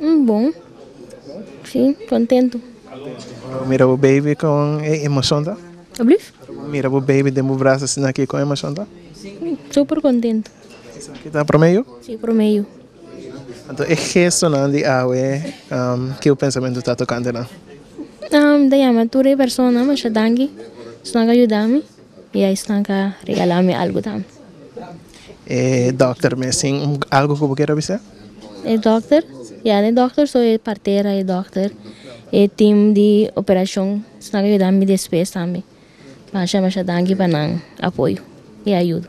Un bon si contento. Ora bo mira bo baby con e emocion ta? Ablief? Ora bo mira bo baby den bo brazo asina aki con emocion ta? Super contento. Esaki ta prome yu? Si prome yu. Anto e gestonan di awe ki bo pensamentu ta tocante nan? Mi ta yama tur e persona masha danki esnan a yuda mi y esnan a regala mi algo tambe. E doctor mes tin algo cu bo kier a bisa? E dokter ya e dokter so e partera e dokter e tim di operashon nan a yuda mi despues tambe masha masha danki pa nan apoyo i ayudo.